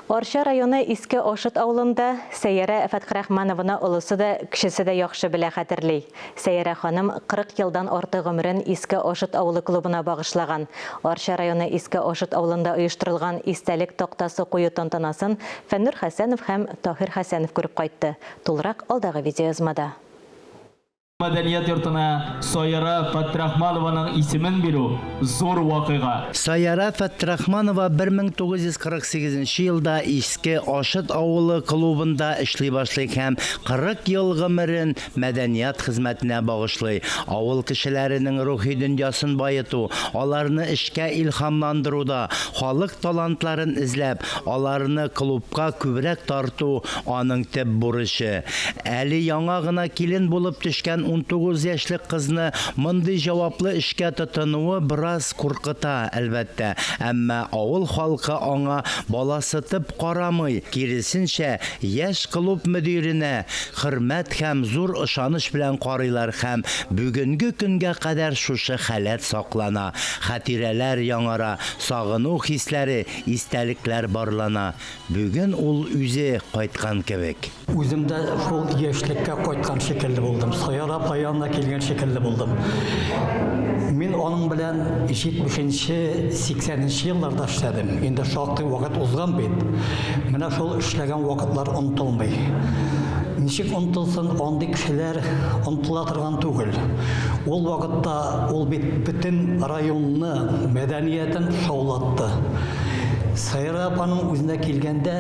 Арча районы Иске Ашыт авылында Сәйярә Фәтхерахманованы олысы да, кечесе дә яхшы белә, хәтерли. Сәйярә ханым 40 елдан артык гомерен Иске Ашыт авылы клубына багышлаган. Арча районы Иске Ашыт авылында оештырылган истәлек тактасы кую тантанасын Фәннүр Хәсәнов һәм Таһир Хәсәнов күреп кайтты. Тулырак алдагы видеоязмада. Мәдәният йортына Саяра Фәттрахманованың исемен бирү, зур вакыйга. Саяра Фәттрахманова 1948 нче елда Иске Ашыт авылы клубында эшли башлый һәм 40 ел гомерен мәдәният хезмәтенә багышлый, авыл кешеләренең рухи дөньясын баету, аларны эшкә илһамландыруда, халык талантларын эзләп, Аларны клубка күбрәк тарту, аның төп бурычы. Әле яңа гына килен булып төшкән унтугыз яшьлек кызны мондый җаваплы эшкә тотынуы бераз куркыта, әлбәттә. Әмма авыл халкы аңа баласытып карамый, киресенчә, яшь клуб мөдиренә хөрмәт һәм зур ышаныч белән карыйлар һәм бүгенге көнгә кадәр шушы халәт саклана, хатирәләр яңара, сагыну хисләре истәлекләр барлана, бүген ул үзе кайткан кебек. Үзем дә шул яшьлеккә кайткан шикелле булдым, Саяр-апа янына килгән шикелле булдым. Мин аның белән җитмешенче, сиксәненче елларда эшләдем, инде шактый вакыт узган бит. Менә шул эшләгән вакытлар онытылмый. Ничек онытылсын, андый кешеләр онытыла торган түгел. Ул вакытта Ул бит бөтен районны, мәдәниятен шаулатты. Саира апаның үзенә килгәндә,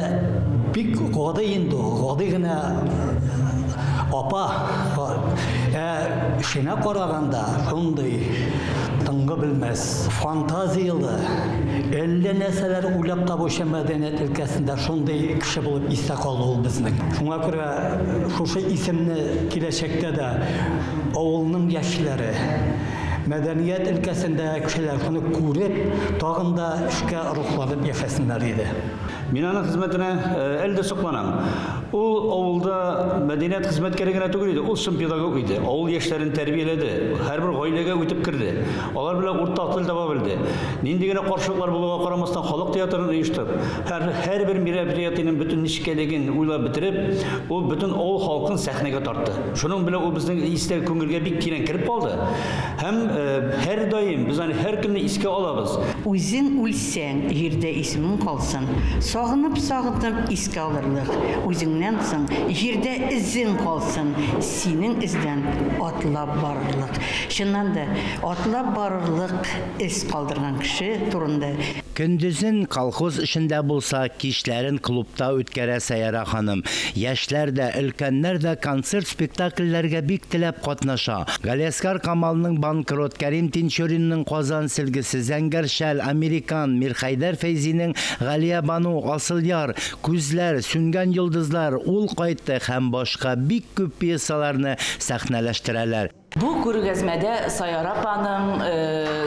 бик гади инде ул, гади генә апа. Ә эшенә караганда, шундый тынгы белмәс, фантазияле, әллә нәрсәләр уйлап табучы мәдәният өлкәсендә шундый кеше булып истә калды ул безнең. Шуңа күрә Шушы исемне киләчәктә дә авылның яшьләре, мәдәният өлкәсендә кешеләр шуны күреп, тагын да эшкә рухланып яшәсеннәр иде. Мин аның хезмәтенә әле дә сокланам. Ул авылда мәдәният хезмәткәре генә түгел иде, ул чын педагог иде. Авыл яшьләрен тәрбияләде, һәрбер гаиләгә үтеп керде. Алар белән уртак тел таба белде. Нинди генә каршылыклар булуга карамастан, халык театрын оештырып, Һәрбер мероприятиенең бөтен нечкәлеген уйлап бетереп, ул бөтен авыл халкын сәхнәгә тартты. Шуның белән ул безнең истә күңелгә бик тирән кереп калды һәм һәрдаим без аны һәркөнне искә алабыз. Үзең үлсәң, җирдә исемең калсын, сагынып-сагынып искә алырлык, үзеңнән соң җирдә эзең калсын, синең эздән атлап барырлык. Чыннан да, атлап барырлык эз калдырган кеше турында. Көндезен колхоз эшендә булса, кичләрен клубта үткәрә Сәяра ханым. Яшьләр дә, өлкәннәр дә концерт-спектакльләргә бик теләп катнаша. Галиәскар Камалның Банкрот, Кәрим Тинчуринның Казан сөлгесе, Зәңгәр шәл, Американ, Мирхәйдәр Фәйзинең Галиябану, Асыл яр, Күзләр, Сүнгән йолдызлар, Ул кайтты һәм башка бик күп пьесаларны сәхнәләштерәләр. Бу күргәзмәдә Саяр апаның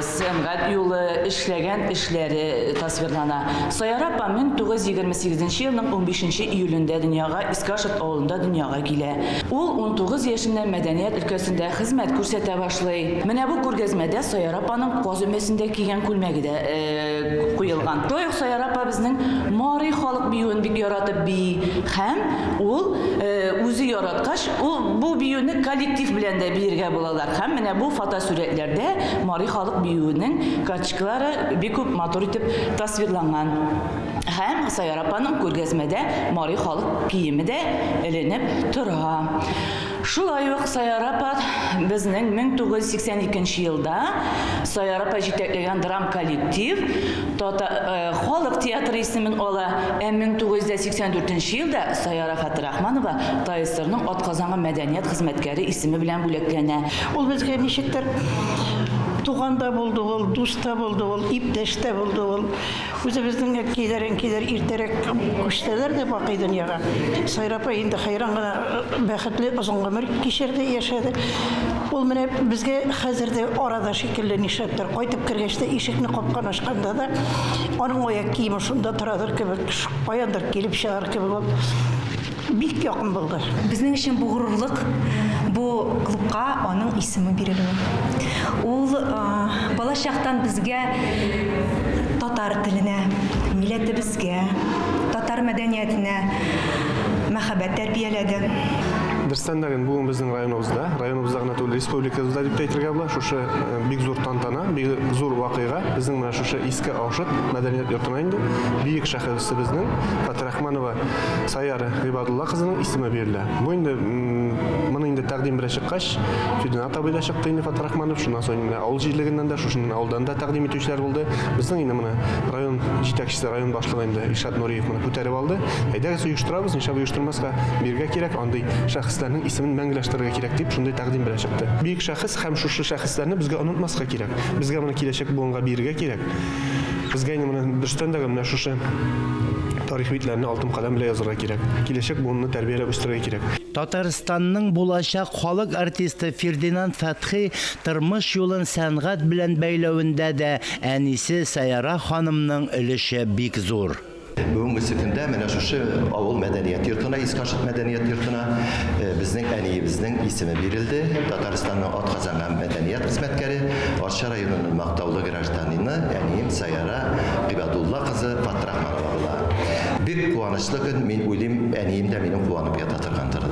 сәнгать юлы, эшләгән эшләре тасвирлана. Саяр апа 1928 нче елның 15 нче июлендә дөньяга Искашерт авылында дөньяга килә. Ул унтугыз яшеннән мәдәният өлкәсендә хезмәт күрсәтә башлый. Менә бу күргәзмәдә Саяр апаның каз өмәсендә кигән күлмәге дә куелган. Шулай ук Саяр апа безнең Мари халык биюен бик яратып бии һәм ул үзе яраткач, Ул бу биюне коллектив белән дә биергә булалар. Һәм менә бу фотосурәтләрдә Мари халык биюенең качкалары бик күп матур итеп тасвирланган. Һәм Саяр апаның күргәзмәдә Мари халык киеме дә эленеп тора. Шулай ук Саяр апа безнең 1982 нче елда Саяр апа җитәкләгән драм коллектив Тата халык театры исемен ала, ә 1984 нче елда Саяр афатра Рахманова ТАЭСРның атказанган мәдәният хезмәткәре исеме белән бүләкләнә. Ул безгә ничектер туган да булды ул, дус та булды ул, иптәш тә булды ул. Үзебезнең әткәйләр, әнкәйләр иртәрәк күчсәләр дә бакый дөньяга, Сайра апа инде хәйран гына бәхетле озын гомер кичерде, яшәде. Ул менә безгә хәзер дә арада шикелле, нишләптер, кайтып кергәч тә, ишекне капканы ачканда да, аның аяк киеме шунда торадыр кебек. Каяндыр килеп чыгар кебек ул бик якын булды. Безнең өчен бу горурлык, бу клубка аның исеме бирелүе. Ул бала чактан безгә татар теленә, милләтебезгә, татар мәдәниятенә мәхәббәт тәрбияләде. Берсен дә бу безнең районыбызда, районыбызда гына түгел, республикабызда дип тә әйтергә була, шушы бик зур тантана, бик зур вакыйга, безнең менә шушы Иске Аушыт мәдәният йортына Инде бөек шәхесебезнең Фатирахманова Саяр Гыйбадулла кызының исеме бирелә. Бу инде моны инде тәкъдим белән чыккач, Фидинат абый да чыкты инде Фатирахманов, шуннан соң менә авыл җирлегеннән дә, шушы авылдан да тәкъдим итүчеләр булды. Безнең инде моны район җитәкчесе, район башлыгы инде Илшат Нуриев моны күтәреп алды. Әйдәгез, оештырабыз, нишләп оештырмаска, бирергә кирәк, андый шәхесләрнең исемен мәңгеләштерергә кирәк дип, шундый тәкъдим белән чыкты. Бөек шәхес һәм шушы шәхесләрне безгә онытмаска кирәк. Безгә моны киләчәк буынга бирергә кирәк. Безгә инде менә дөрестән дә менә шушы тарих битләрне алтын каләм белән язырга кирәк. Киләчәк буынны тәрбияләп үстерергә кирәк. Татарстанның булачак халык артисты Фердинанд Фәтхи тормыш юлын сәнгать белән бәйләвендә дә әнисе Сәяра ханымның өлеше бик зур. Бүгенге көндә менә шушы авыл мәдәният йортына, Искашык мәдәният йортына э, безнең әниебезнең исеме бирелде. Татарстанның атказанган һәм мәдәният хезмәткәре, Арча районының мактаулы гражданины әнием Саяра Гыйбадулла кызы Фатрахманова була. Бик куанычлы көн, мин уйлыйм, әнием дә минем куанып ята торгандыр.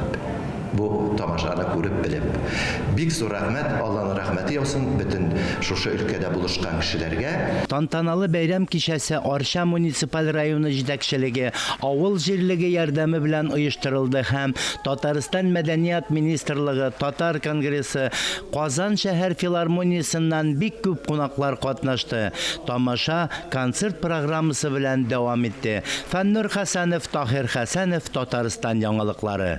Бу тамашаны күреп белеп. Бик зур рәхмәт, Алланың рәхмәте яусын бөтен шушы өлкәдә булышкан кешеләргә. Тантаналы бәйрәм кичәсе Арча муниципаль районы җитәкчелеге, авыл җирлеге ярдәме белән оештырылды һәм Татарстан Мәдәният министрлыгы, Татар конгрессы, Казан шәһәр филармониясеннән бик күп кунаклар катнашты. Тамаша концерт программасы белән дәвам итте. Фәннур Хәсәнов, Таһир Хәсәнов, Татарстан яңалыклары.